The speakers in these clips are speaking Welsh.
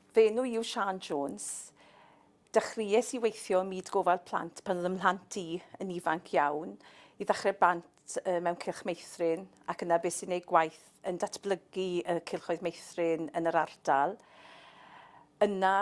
Fy enw i yw Siân Jones. Dechreuais i weithio ym myd gofal plant pan oedd ym mhlant i yn ifanc iawn. I ddechrau bant mewn cylch meithrin ac yna beth sy'n ei gwaith yn datblygu y cylchoedd meithrin yn yr ardal. Yna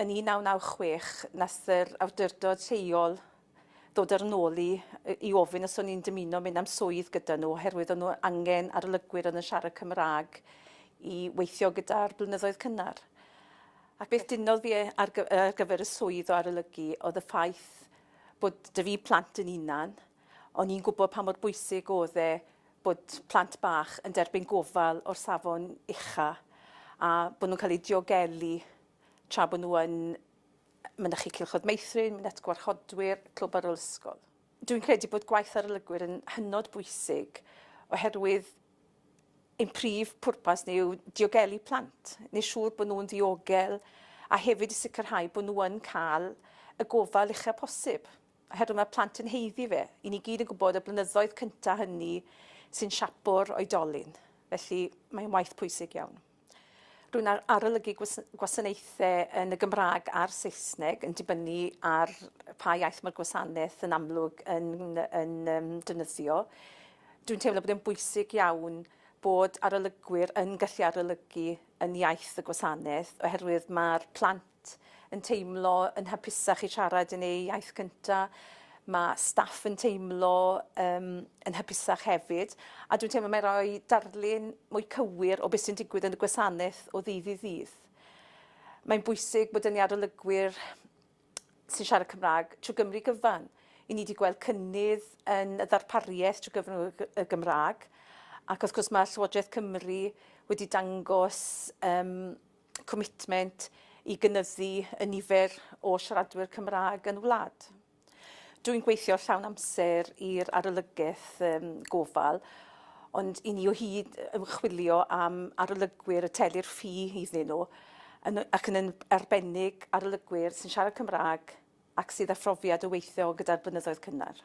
Yn 1996, nath yr awdurdod lleol ddod ar 'y nôl i i ofyn os o'n i'n dymuno mynd am swydd gyda nhw oherwydd o'n nhw angen arolygwyr oedd yn siarad Cymraeg i weithio gyda'r blynyddoedd cynnar. Ac beth dynodd fi e- ar gy- ar gyfer y swydd o arolygu oedd y ffaith bod 'da fi plant yn 'unan, o'n i'n gwbod pa mor bwysig o'dd e bod plant bach yn derbyn gofal o'r safon ucha a bod nhw'n cael eu diogelu tra bod nhw yn mynychu Cylchoedd Meithrin, Mynediad Gwarchodwyr, Clwb ar ôl ysgol. Dwi'n credu bod gwaith arolygwyr yn hynod bwysig oherwydd ein prif pwrpas ni yw diogelu plant, neu siŵr bod nhw'n ddiogel a hefyd i sicrhau bod nhw yn cael y gofal uchaf posib. oherwydd mae'r plant yn haeddu fe. I ni gyd yn gwybod y blynyddoedd cyntaf hynny sy'n siapo'r oedolyn, felly mae'n waith pwysig iawn. Rwy'n arolygu gwasanaethau yn y Gymraeg a'r Saesneg yn dibynnu ar pa iaith mae'r gwasanaeth yn amlwg yn, yn um, dynyddio. Dwi'n teimlo bod e'n bwysig iawn bod arolygwyr yn gallu arolygu yn iaith y gwasanaeth oherwydd mae'r plant plant yn teimlo yn hapusach i siarad yn eu iaith gyntaf, mae staff yn teimlo um, yn hapusach hefyd, a dwi'n teimlo mae'n rhoi darlun mwy cywir o beth sy'n digwydd yn y gwasanaeth o ddydd i ddydd. Mae'n bwysig bod yn arolygwyr sy'n siarad Cymraeg trwy Gymru gyfan. I ni wedi gweld cynnydd yn y ddarpariaeth trwy gyfrwng y Gymraeg, ac wrth gwrs mae Llywodraeth Cymru wedi dangos um, comitment i gynyddu y nifer o siaradwyr Cymraeg yn y wlad. Dwi'n gweithio llawn amser i'r arolygaeth um, gofal, ond i ni o hyd ymchwilio am arolygwyr y telir ffi iddyn nhw, yn, ac yn arbennig arolygwyr sy'n siarad Cymraeg ac sydd â phrofiad o weithio gyda'r blynyddoedd cynnar.